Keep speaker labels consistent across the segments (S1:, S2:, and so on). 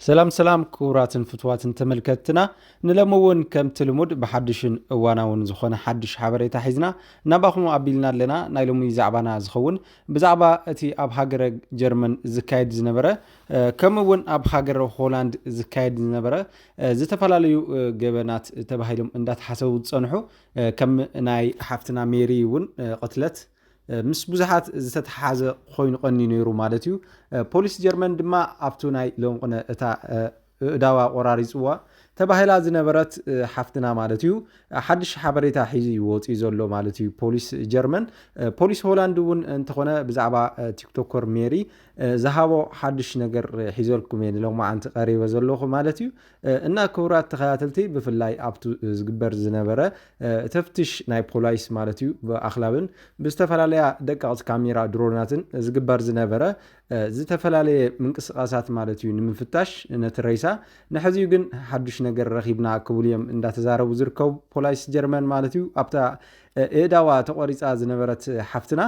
S1: ሰላም ሰላም ክቡራትን ፍትዋትን ተመልከትትና ንለሚ እውን ከምቲ ልሙድ ብሓድሽን እዋናውን ዝኾነ ሓድሽ ሓበሬታ ሒዝና ናባኹም ኣቢልና ኣለና ናይ ሎሚ ዛዕባና ዝኸውን ብዛዕባ እቲ ኣብ ሃገረ ጀርመን ዝካየድ ዝነበረ ከምኡ እውን ኣብ ሃገረ ሆላንድ ዝካየድ ዝነበረ ዝተፈላለዩ ገበናት ተባሂሎም እንዳተሓሰቡ ዝፀንሑ ከም ናይ ሓፍትና ሜሪ እውን ቅትለት ምስ ብዙሓት ዝተተሓሓዘ ኮይኑ ቀንዩ ነይሩ ማለት እዩ ፖሊስ ጀርመን ድማ ኣብቱ ናይ ለንቁነ እታ እእዳዋ ቆራሪፅዋ ተባሂላ ዝነበረት ሓፍትና ማለት እዩ ሓድሽ ሓበሬታ ሒዙ እዩ ወፅኡ ዘሎ ማለት እዩ ፖሊስ ጀርመን ፖሊስ ሆላንድ እውን እንተኾነ ብዛዕባ ቲክቶከር ሜሪ ዝሃቦ ሓድሽ ነገር ሒዘልኩም እየ ንሎማዓንቲ ቀሪበ ዘለኹ ማለት እዩ እና ክቡራት ተኸታተልቲ ብፍላይ ኣብቱ ዝግበር ዝነበረ ተፍትሽ ናይ ፖላይስ ማለት እዩ ብኣኽላብን ብዝተፈላለያ ደቀቕቲ ካሜራ ድሮናትን ዝግበር ዝነበረ ዝተፈላለየ ምንቅስቓሳት ማለት እዩ ንምፍታሽ ነቲ ረይሳ ንሕዚዩ ግን ሓዱሽ ነገር ረኺብና ክብሉ እዮም እንዳተዛረቡ ዝርከቡ ፖላይስ ጀርመን ማለት እዩ ኣብታ እእዳዋ ተቖሪፃ ዝነበረት ሓፍትና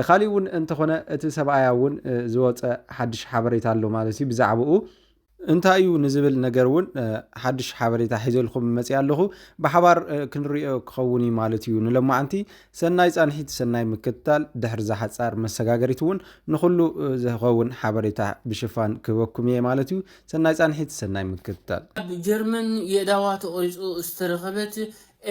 S1: ካሊእ እውን እንተኾነ እቲ ሰብኣያ እውን ዝወፀ ሓዱሽ ሓበሬታ ኣሎ ማለት እዩ ብዛዕባኡ እንታይ እዩ ንዝብል ነገር እውን ሓድሽ ሓበሬታ ሒዘልኩም መፅኣ ኣለኹ። ብሓባር ክንሪኦ ክኸውን እዩ ማለት እዩ። ንሎማዓንቲ ሰናይ ፃንሒት፣ ሰናይ ምክትታል፣ ድሕሪ ዝሓፃር መሰጋገሪት እውን ንኹሉ ዝኸውን ሓበሬታ ብሽፋን ክህበኩም እየ ማለት እዩ። ሰናይ ፃንሒት፣ ሰናይ ምክትታል። ኣብ ጀርመን
S2: የእዳዋ ተቖሪጹ ዝተረኸበት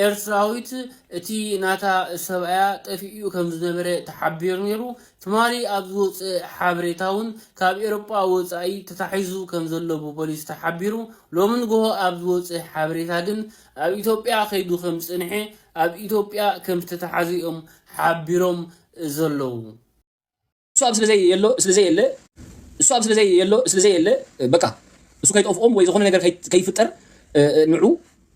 S2: ኤርትራዊት እቲ ናታ ሰብኣያ ጠፊኡ ከምዝነበረ ተሓቢሩ ነይሩ፣ ትማሊ ኣብ ዝወጽእ ሓበሬታ ውን ካብ ኤሮጳ ወጻኢ ተታሒዙ ከምዘሎ ብፖሊስ ተሓቢሩ፣ ሎሚ ንግሆ ኣብ ዝወጽእ ሓበሬታ ግን ኣብ ኢትዮጵያ ከይዱ ከምዝጸንሐ ኣብ ኢትዮጵያ ከምዝተታሓዘ'ዮም ሓቢሮም ዘለዉ።
S3: እሱ ኣብ ስለዘይ የሎ ስለዘይ የለ እሱ ኣብ ስለዘይ የሎ ስለዘይ የለ በቃ እሱ ከይጠፍኦም ወይ ዝኾነ ነገር ከይፍጠር ንዑ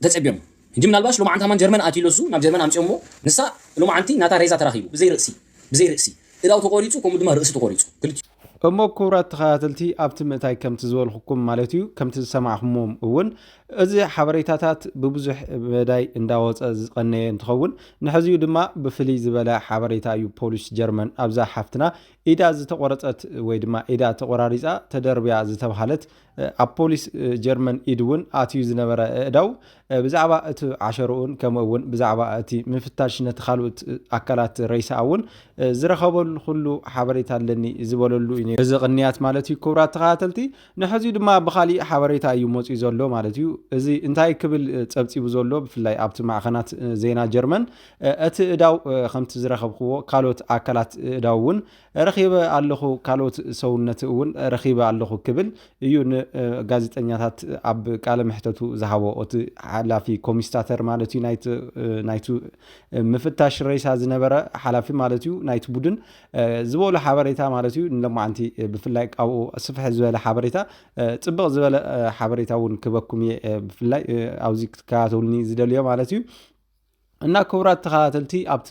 S3: ተጸብዮም ሕጂ ምናልባሽ ሎማዓንቲ ሃማን ጀርመን ኣትዩ ለሱ ናብ ጀርመን ኣምጺኦሞ ንሳ ሎማዓንቲ ናታ ሬዛ ተራኺቡ ብዘይ ርእሲ ብዘይ ርእሲ እዳው ተቖሪጹ ከምኡ ድማ ርእሲ ተቖሪጹ ክልቲኡ እሞ
S1: ክቡራት ተኸታተልቲ ኣብቲ ምእታይ ከምቲ ዝበልኹኩም ማለት እዩ ከምቲ ዝሰማዕኹምዎም እውን እዚ ሓበሬታታት ብብዙሕ መዳይ እንዳወጸ ዝቐነየ እንትኸውን ንሐዚው ድማ ብፍልይ ዝበለ ሓበሬታ እዩ ፖሊስ ጀርመን ኣብዛ ሓፍትና ኢዳ ዝተቖረጸት ወይ ድማ ኢዳ ተቖራሪጻ ተደርብያ ዝተብሃለት ኣብ ፖሊስ ጀርመን ኢድ እውን ኣትዩ ዝነበረ ኣእዳው ብዛዕባ እቲ ዓሸርኡን ከምኡ እውን ብዛዕባ እቲ ምፍታሽ ነቲ ካልኡት ኣካላት ረይሳኣ እውን ዝረኸበሉ ኩሉ ሓበሬታ ኣለኒ ዝበለሉ እዩ ነይሩ እዚ ቅንያት ማለት እዩ ክቡራት ተኸታተልቲ ንሕዚ ድማ ብኻሊእ ሓበሬታ እዩ መፂኡ ዘሎ ማለት እዩ። እዚ እንታይ ክብል ፀብፂቡ ዘሎ ብፍላይ ኣብቲ ማዕኸናት ዜና ጀርመን እቲ እዳው ከምቲ ዝረኸብክዎ ካልኦት ኣካላት እዳው እውን ረኺበ ኣለኹ ካልኦት ሰውነት እውን ረኺበ ኣለኹ ክብል እዩ ንጋዜጠኛታት ኣብ ቃለ መሕተቱ ዝሃቦ እቲ ሓላፊ ኮሚስታተር ማለት እዩ ናይቲ ምፍታሽ ሬሳ ዝነበረ ሓላፊ ማለት እዩ ናይቲ ቡድን ዝበሉ ሓበሬታ ማለት እዩ ንሎማዓንቲ ብፍላይ ካብኡ ስፍሕ ዝበለ ሓበሬታ ፅብቕ ዝበለ ሓበሬታ እውን ክበኩም እየ ብፍላይ ኣብዚ ክትከታተሉኒ ዝደልዮ ማለት እዩ እና ክቡራት ተኸታተልቲ ኣብቲ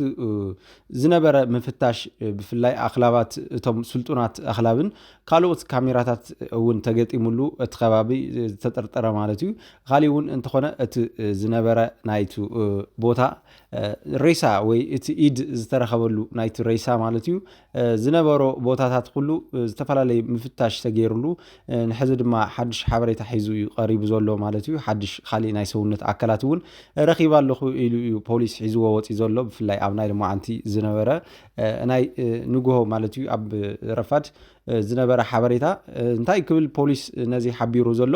S1: ዝነበረ ምፍታሽ ብፍላይ ኣኽላባት እቶም ስልጡናት ኣኽላብን ካልኦት ካሜራታት እውን ተገጢሙሉ እቲ ከባቢ ዝተጠርጠረ ማለት እዩ ካሊእ እውን እንተኾነ እቲ ዝነበረ ናይቲ ቦታ ሬሳ ወይ እቲ ኢድ ዝተረኸበሉ ናይቲ ሬሳ ማለት እዩ ዝነበሮ ቦታታት ኩሉ ዝተፈላለዩ ምፍታሽ ተገይሩሉ ንሕዚ ድማ ሓድሽ ሓበሬታ ሒዙ እዩ ቀሪቡ ዘሎ ማለት እዩ ሓድሽ ካሊእ ናይ ሰውነት ኣካላት እውን ረኺባ ኣለኹ ኢሉ እዩ ፖሊስ ሒዝዎ ወፂ ዘሎ ብፍላይ ኣብ ናይ ልማዓንቲ ዝነበረ ናይ ንግሆ ማለት እዩ ኣብ ረፋድ ዝነበረ ሓበሬታ እንታይ ክብል ፖሊስ ነዚ ሓቢሩ ዘሎ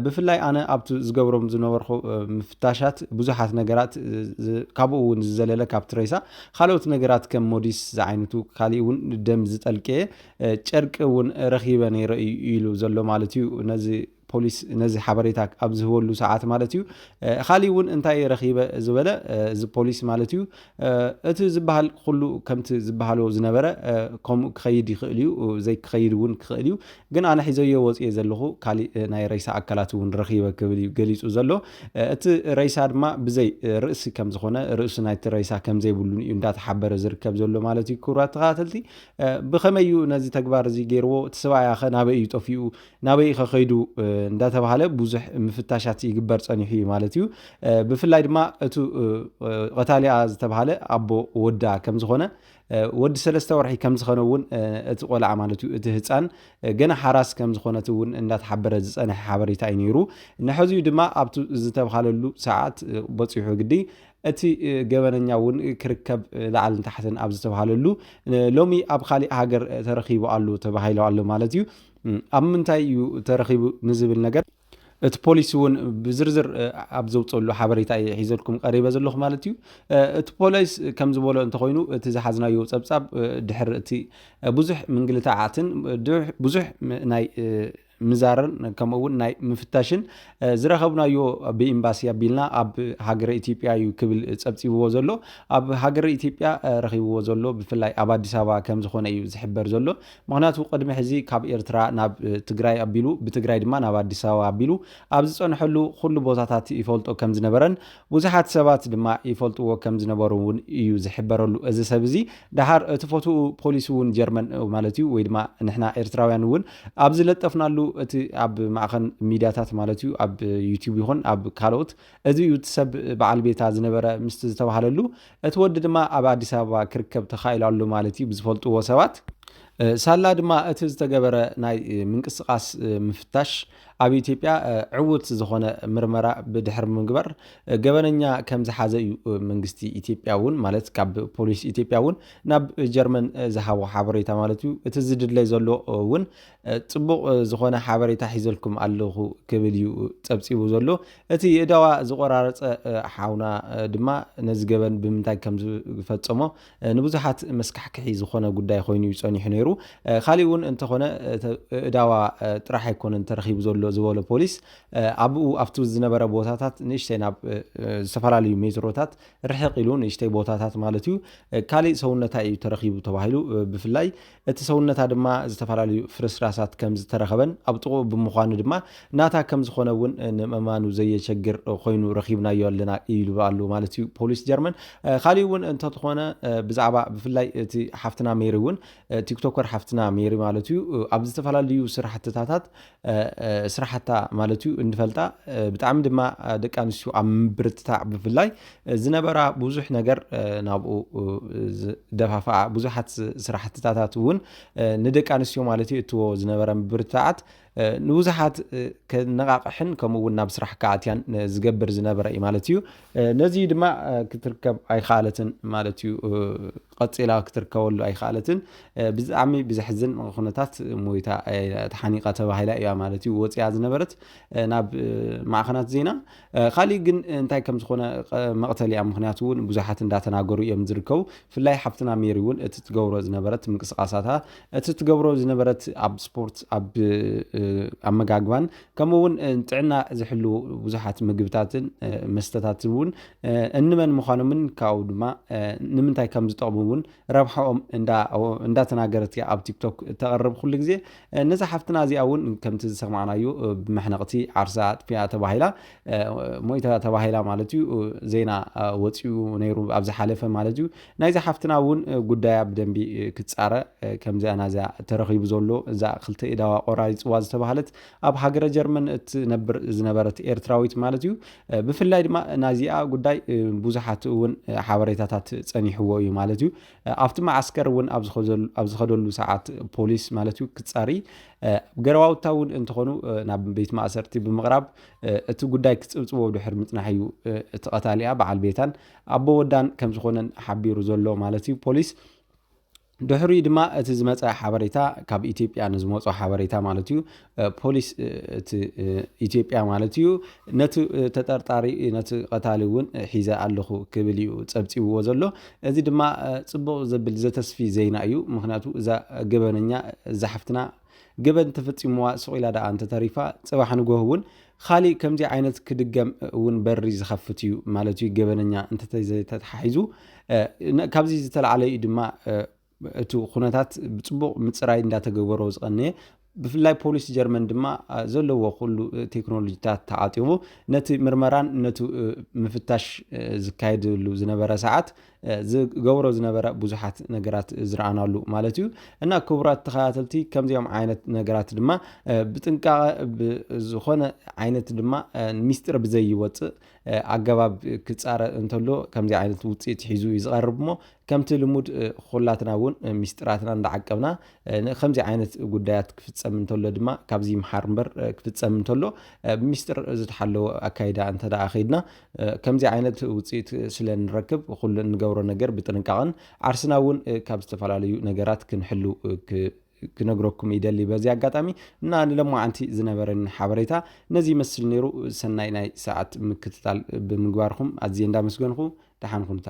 S1: ብፍላይ ኣነ ኣብቲ ዝገብሮም ዝነበርኩ ምፍታሻት ብዙሓት ነገራት ካብኡ እውን ዝዘለለ ካብ ትሬሳ ካልኦት ነገራት ከም ሞዲስ ዝዓይነቱ ካሊእ እውን ደም ዝጠልቀየ ጨርቂ እውን ረኺበ ነይረ ኢሉ ዘሎ ማለት እዩ ነዚ ፖሊስ ነዚ ሓበሬታ ኣብ ዝህበሉ ሰዓት ማለት እዩ ኻሊእ እውን እንታይ ረኺበ ዝበለ እዚ ፖሊስ ማለት እዩ እቲ ዝበሃል ኩሉ ከምቲ ዝበሃሎ ዝነበረ ከምኡ ክኸይድ ይኽእል እዩ ዘይክኸይድ እውን ክኽእል እዩ ግን ኣነ ሒዘዮ ወፅየ ዘለኹ ካሊእ ናይ ረይሳ ኣካላት እውን ረኺበ ክብል እዩ ገሊፁ ዘሎ እቲ ረይሳ ድማ ብዘይ ርእሲ ከም ዝኾነ ርእሲ ናይቲ ረይሳ ከም ዘይብሉን እዩ እንዳተሓበረ ዝርከብ ዘሎ ማለት እዩ ክቡራት ተኸታተልቲ ብኸመይ እዩ ነዚ ተግባር እዚ ገይርዎ እቲ ሰብኣያ ኸ ናበይ እዩ ጠፊኡ ናበይ ኢኸ ከይዱ እንዳተባሃለ ብዙሕ ምፍታሻት ይግበር ጸኒሑ እዩ ማለት እዩ። ብፍላይ ድማ እቱ ቐታሊኣ ዝተባሃለ ኣቦ ወዳ ከም ዝኾነ ወዲ ሰለስተ ወርሒ ከም ዝኸነ እውን እቲ ቆልዓ ማለት እዩ እቲ ህፃን ገና ሓራስ ከም ዝኾነት እውን እንዳተሓበረ ዝፀንሐ ሓበሬታ እዩ ነይሩ ንሐዚኡ ድማ ኣብቲ ዝተብሃለሉ ሰዓት በፂሑ ግዲ እቲ ገበነኛ እውን ክርከብ ላዕልን ታሕትን ኣብ ዝተብሃለሉ ሎሚ ኣብ ካሊእ ሃገር ተረኺቡ ኣሉ ተባሂሉ ኣሎ ማለት እዩ ኣብ ምንታይ እዩ ተረኺቡ ንዝብል ነገር እቲ ፖሊሲ እውን ብዝርዝር ኣብ ዘውፀሉ ሓበሬታ እየ ሒዘልኩም ቀሪበ ዘለኹ ማለት እዩ እቲ ፖሊስ ከም ዝበሎ እንተኮይኑ እቲ ዝሓዝናዮ ፀብፃብ ድሕሪ እቲ ብዙሕ ምንግልታዓትን ብዙሕ ናይ ምዛርን ከምኡ እውን ናይ ምፍታሽን ዝረኸብናዮ ብኤምባሲ ኣቢልና ኣብ ሃገረ ኢትዮጵያ እዩ ክብል ፀብፂብዎ ዘሎ ኣብ ሃገረ ኢትዮጵያ ረኺብዎ ዘሎ ብፍላይ ኣብ ኣዲስ ኣበባ ከም ዝኾነ እዩ ዝሕበር ዘሎ ምኽንያቱ ቅድሚ ሕዚ ካብ ኤርትራ ናብ ትግራይ ኣቢሉ ብትግራይ ድማ ናብ ኣዲስ ኣበባ ኣቢሉ ኣብ ዝጸንሐሉ ኩሉ ቦታታት ይፈልጦ ከም ዝነበረን ብዙሓት ሰባት ድማ ይፈልጥዎ ከም ዝነበሩ እውን እዩ ዝሕበረሉ እዚ ሰብ እዚ ደሓር እቲ ፎቶኡ ፖሊስ እውን ጀርመን ማለት እዩ ወይ ድማ ንሕና ኤርትራውያን እውን ኣብ ዝለጠፍናሉ እቲ ኣብ ማዕኸን ሚድያታት ማለት እዩ ኣብ ዩቲዩብ ይኹን ኣብ ካልኦት እዚ እዩ እቲ ሰብ በዓል ቤታ ዝነበረ ምስቲ ዝተባህለሉ፣ እቲ ወዲ ድማ ኣብ ኣዲስ ኣበባ ክርከብ ተኻኢሉ ኣሎ ማለት እዩ ብዝፈልጥዎ ሰባት። ሳላ ድማ እቲ ዝተገበረ ናይ ምንቅስቓስ ምፍታሽ ኣብ ኢትዮጵያ ዕዉት ዝኾነ ምርመራ ብድሕሪ ምግባር ገበነኛ ከም ዝሓዘ እዩ መንግስቲ ኢትዮጵያ እውን ማለት ካብ ፖሊስ ኢትዮጵያ እውን ናብ ጀርመን ዝሃቦ ሓበሬታ ማለት እዩ። እቲ ዝድለ ዘሎ እውን ጽቡቕ ዝኾነ ሓበሬታ ሒዘልኩም ኣለኹ ክብል እዩ ጸብጺቡ ዘሎ። እቲ የእዳዋ ዝቆራረጸ ሓውና ድማ ነዚ ገበን ብምንታይ ከም ዝፈጸሞ ንብዙሓት መስካሕክሒ ዝኾነ ጉዳይ ኮይኑ እዩ ጸኒሑ ነይሩ። ካሊእ እውን እንተኾነ እእዳዋ ጥራሕ ኣይኮነን ተረኺቡ ዘሎ ዝበሎ ፖሊስ ኣብኡ ኣብቲ ዝነበረ ቦታታት ንእሽተይ ናብ ዝተፈላለዩ ሜትሮታት ርሕቕ ኢሉ ንእሽተይ ቦታታት ማለት እዩ ካሊእ ሰውነታ እዩ ተረኺቡ ተባሂሉ ብፍላይ እቲ ሰውነታ ድማ ዝተፈላለዩ ፍርስራሳት ከም ዝተረኸበን ኣብ ጥቕኡ ብምዃኑ ድማ ናታ ከም ዝኾነ እውን ንምእማኑ ዘየቸግር ኮይኑ ረኺብናዮ ኣለና ኢሉ ኣሉ ማለት እዩ ፖሊስ ጀርመን። ካሊእ እውን እንተትኾነ ብዛዕባ ብፍላይ እቲ ሓፍትና ሜሪ እውን ቲክቶከር ሓፍትና ሜሪ ማለት እዩ ኣብ ዝተፈላለዩ ስራሕትታታት ስራሕታ ማለት እዩ እንፈልጣ ብጣዕሚ ድማ ደቂ ኣንስትዮ ኣብ ምብርትታዕ ብፍላይ ዝነበራ ብዙሕ ነገር ናብኡ ዝደፋፍኣ ብዙሓት ስራሕትታታት እውን ንደቂ ኣንስትዮ ማለት እዩ እትዎ ዝነበረ ምብርትታዓት ንብዙሓት ከነቓቕሕን ከምኡ እውን ናብ ስራሕ ክኣትያን ዝገብር ዝነበረ እዩ ማለት እዩ ነዚ ድማ ክትርከብ ኣይከኣለትን ማለት እዩ ቐጺላ ክትርከበሉ ኣይኸኣለትን። ብጣዕሚ ብዘሕዝን ኩነታት ሞይታ ተሓኒቃ ተባሂላ እያ ማለት እዩ ወጺኣ ዝነበረት ናብ ማዕኸናት ዜና። ካሊእ ግን እንታይ ከም ዝኾነ መቕተል እያ ምክንያቱ እውን ብዙሓት እንዳተናገሩ እዮም ዝርከቡ። ፍላይ ሓፍትና ሜሪ እውን እቲ ትገብሮ ዝነበረት ምንቅስቃሳታ እቲ ትገብሮ ዝነበረት ኣብ ስፖርት ኣብ ኣመጋግባን ከምኡ እውን ጥዕና ዝሕልዉ ብዙሓት ምግብታትን መስተታትን እውን እንመን ምዃኖምን ካብኡ ድማ ንምንታይ ከም ዝጠቕሙ እውን ረብሓኦም እንዳተናገረት እያ ኣብ ቲክቶክ ተቕርብ ኩሉ ግዜ ነዛ ሓፍትና እዚኣ እውን ከምቲ ዝሰማዕናዩ ብመሕነቕቲ ዓርሳ ኣጥፊኣ ተባሂላ ሞይታ ተባሂላ ማለት እዩ ዜና ወፂኡ ነይሩ ኣብ ዝሓለፈ ማለት እዩ ናይዛ ሓፍትና እውን ጉዳያ ብደንቢ ክፃረ ከምዚኣ ናዚኣ ተረኺቡ ዘሎ እዛ ክልተ ኢዳዋ ቆራሪፅዋ ዝተባሃለት ኣብ ሃገረ ጀርመን እትነብር ዝነበረት ኤርትራዊት ማለት እዩ ብፍላይ ድማ ናዚኣ ጉዳይ ብዙሓት እውን ሓበሬታታት ፀኒሕዎ እዩ ማለት እዩ ኣብቲ መዓስከር እውን ኣብ ዝኸደሉ ሰዓት ፖሊስ ማለት እዩ ክፃሪ ገረዋውታ እውን እንትኾኑ ናብ ቤት ማእሰርቲ ብምቕራብ እቲ ጉዳይ ክፅብፅቦ ድሕር ምፅናሕ እዩ እቲ ቀታሊኣ በዓል ቤታን ኣቦ ወዳን ከም ዝኾነን ሓቢሩ ዘሎ ማለት እዩ ፖሊስ ድሕሪኡ ድማ እቲ ዝመፀ ሓበሬታ ካብ ኢትዮጵያ ንዝመፆ ሓበሬታ ማለት እዩ ፖሊስ እቲ ኢትዮጵያ ማለት እዩ ነቲ ተጠርጣሪ ነቲ ቀታሊ እውን ሒዘ ኣለኹ ክብል እዩ ፀብፂብዎ ዘሎ እዚ ድማ ፅቡቕ ዘብል ዘተስፊ ዜና እዩ ምክንያቱ እዛ ገበነኛ እዛ ሓፍትና ገበን ተፈጺሙዋ ስቕ ኢላ ደኣ እንተተሪፋ ጽባሕ ንጎህ እውን ኻሊእ ከምዚ ዓይነት ክድገም እውን በሪ ዝኸፍት እዩ ማለት እዩ ገበነኛ እንተተተተሓሒዙ ካብዚ ዝተላዕለ እዩ ድማ እቲ ኩነታት ብፅቡቕ ምፅራይ እንዳተገበሮ ዝቐነየ ብፍላይ ፖሊስ ጀርመን ድማ ዘለዎ ኩሉ ቴክኖሎጂታት ተዓጢቑ ነቲ ምርመራን ነቲ ምፍታሽ ዝካየድሉ ዝነበረ ሰዓት ዝገብሮ ዝነበረ ብዙሓት ነገራት ዝረኣናሉ ማለት እዩ እና ክቡራት ተኸታተልቲ ከምዚኦም ዓይነት ነገራት ድማ ብጥንቃቐ ዝኾነ ዓይነት ድማ ሚስጢር ብዘይወፅእ ኣገባብ ክፃረ እንተሎ ከምዚ ዓይነት ውፅኢት ሒዙ እዩ ዝቐርብ እሞ ከምቲ ልሙድ ኩላትና እውን ሚስጢራትና እንዳዓቀብና ከምዚ ዓይነት ጉዳያት ክፍፀም እንተሎ ድማ ካብዚ ይምሓር እምበር ክፍፀም እንተሎ ብሚስጢር ዝተሓለወ ኣካይዳ እንተደኣ ከይድና ከምዚ ዓይነት ውፅኢት ስለ ንረክብ ኹሉ እንገብሮ ነገር ብጥንቃቐን ዓርስና እውን ካብ ዝተፈላለዩ ነገራት ክንሕሉ ክነግረኩም ይደሊ በዚ ኣጋጣሚ እና ንለማዓንቲ ዝነበረኒ ሓበሬታ ነዚ ይመስል ነይሩ ሰናይ ናይ ሰዓት ምክትታል ብምግባርኩም ኣዝየ እንዳመስገንኹ ደሓን ኩኑታ